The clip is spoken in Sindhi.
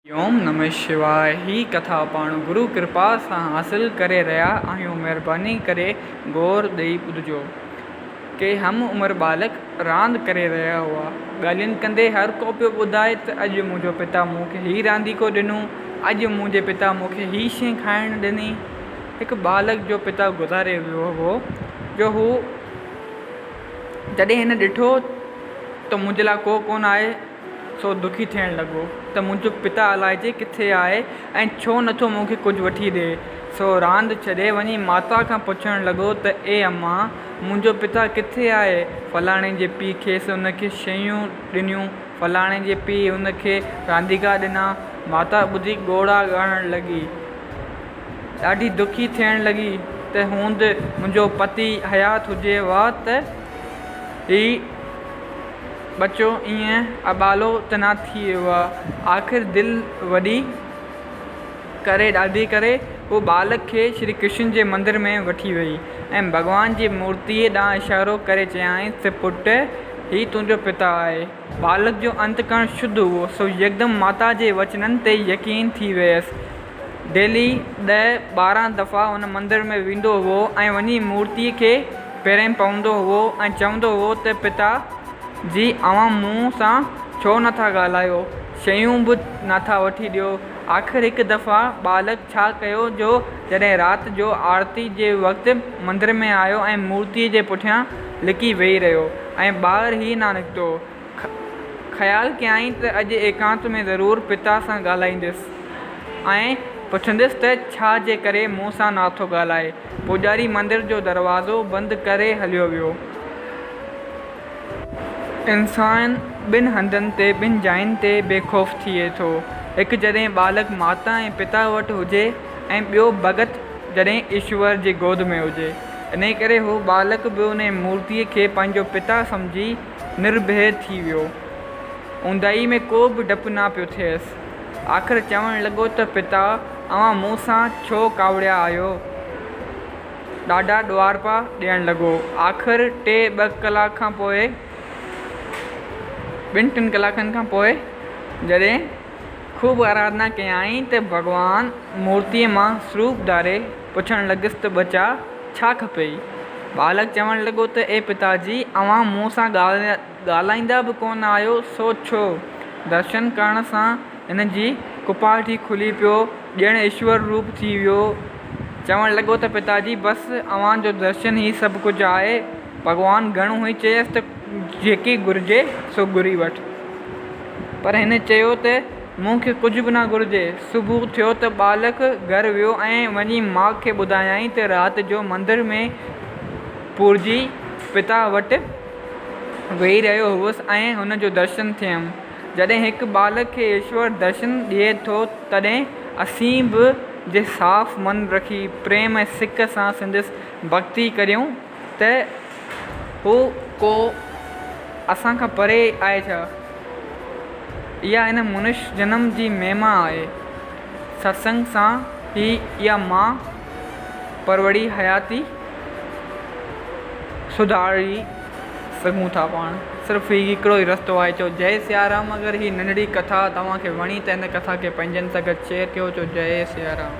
اوم نمه شواء هي ڪٿا پاڻ گرو ڪرپا سان حاصل ڪري رهيا آهيون مهرباني ڪري غور ڏئي ٻڌجو. ڪي هم عمر ٻالڪ راند ڪري رهيا هئا. ڳالهين ڪندي هر ڪو پيو ٻڌائي ته اڄ منهنجو پتا مون کي هي رانديڪو ڏنو، اڄ منهنجي پتا مون کي هي شي کائڻ ڏني. هڪ ٻالڪ جو پتا گذاري ويو هو جو هو جڏهن هن ڏٺو ته منهنجي لاء ڪو ڪونه آهي، سو دکي ٿيڻ لڳو ته منهنجو پتا الائجي ڪٿي آهي ۽ ڇو نٿو مون کي ڪجهه وٺي ڏئي. سو راند ڇڏي وڃي ماتا کان پڇڻ لڳو ته اي اما! منهنجو پتا ڪٿي آهي؟ فلاڻي جي پيء کيس ان کي شيون ڏنيون، فلاڻي جي پيء ان کي رانديڪا ڏنا. ماتا ٻڌي ڳوڙها ڳاڙڻ لڳي. ڏاڍي دکي ٿيڻ لڳي ته هوند منهنجو پتي حيات هجي ها ته هي. ٻچو ائين اٻالو ته نه ٿي ويو آ؟ آخر دل وڏي ڪري ڏاڍي ڪري هوء ٻالڪ کي شري ڪرشن جي مندر ۾ وٺي ويئي ۽ ڀڳوان جي مورتيء ڏانهن اشارو ڪري چيائينس ته پٽ هي تنهنجو پتا آهي. ٻالڪ جو انتڪرڻ شڌ هئو سو يڪدم ماتا جي وچنن تي يقين ٿي ويس ڊيلي ڏهه ٻارهن دفعا ان مندر ۾ ويندو هئو ۽ وڃي مورتيء کي پيرين پوندو هئو ۽ چوندو هئو ته پتا جي اوهان مون سان ڇو نٿا ڳالهايو، شيون به ناٿا وٺي ڏيو. آخر هڪ دفعا ٻالڪ ڇا ڪيو جو جڏهن رات جو آرتي جي وقت مندر ۾ آيو ۽ مورتيء جي پٺيان لڪي ويهي رهيو ۽ ٻاهر ئي نه نڪتو. خيال ڪيائين ته اڄ ايڪانت ۾ ضرور پتا سان ڳالهائيندس ۽ پڇندس ته ڇا جي ڪري مون سان ناٿو ڳالهائي. پوڄاري مندر جو دروازو بند ڪري هليو ويو. انسان ٻن هنڌن تي، ٻن جاين تي بي خوف ٿئي ٿو. هڪ جڏهن ٻالڪ ماتا ۽ پتا وٽ هجي ۽ ٻيو ڀڳت جڏهن ايشور جي گود ۾ هجي. انهيء ڪري هو ٻالڪ به انهيء مورتيء کي پنهنجو پتا سمجهي، نرڀئي ٿي ويو. اونداهي ۾ ڪو به ڊپ نه پيو ٿئيس. آخر چوڻ لڳو ته پتا اوهان مون سان ڇو ڪاوڙيا آهيو؟ ڏاڍا ڏوهارپا ڏيڻ لڳو. آخر ٽي ٻه ڪلاڪ کان پوء ٻن ٽن ڪلاڪن کان پوء جڏهن خوب آراڌنا ڪيائين ته ڀڳوان مورتيء مان سروپ ڌاري پڇڻ لڳس ته ٻچا ڇا کپيئي؟ ٻالڪ چوڻ لڳو ته اي پتا جي، اوهان مون سان ڳالهائيندا به ڪونه آهيو، سو ڇو؟ درشن ڪرڻ سان هن جي ڪپاهٽي کلي پيو، ڄڻ ايشور روپ ٿي ويو. چوڻ لڳو ته پتا جي، بس اوهان جو درشن ئي سڀ ڪجهه آهي. ڀڳوان گهڻو ئي چيس ته جيڪي گهرجي سو گهري وٺ. پر هن چيو ته. مون کي ڪجهه به نه گهرجي. صبح ٿيو ته ٻالڪ گهر ويو ۽ وڃي ماء کي ٻڌايائين ته رات جو مندر ۾ پورهيي پتا وٽ ويهي رهيو هوس ۽ هن جو درشن ٿيم. جڏهن هڪ ٻالڪ کي ايشور درشن ڏئي ٿو تڏهن اسين به جي صاف من رکي پريم ۽ سڪ سان سندس ڀڳتي ڪريون، ته هو ڪو اسان کان پري آهي ڇا؟ اها هن منش جنم جي مهما آهي. ستسنگ سان ئي اها مان پروڙي حياتي سڌاري سگهون ٿا پاڻ. صرف هي هڪڙو ئي رستو آهي. چؤ جئي سيارام اگر هي ننڍڙي ڪٿا توهان کي وڻي ته هن ڪٿا کي پنهنجن سان گڏ شيئر ڪيو چؤ جئي سيارام.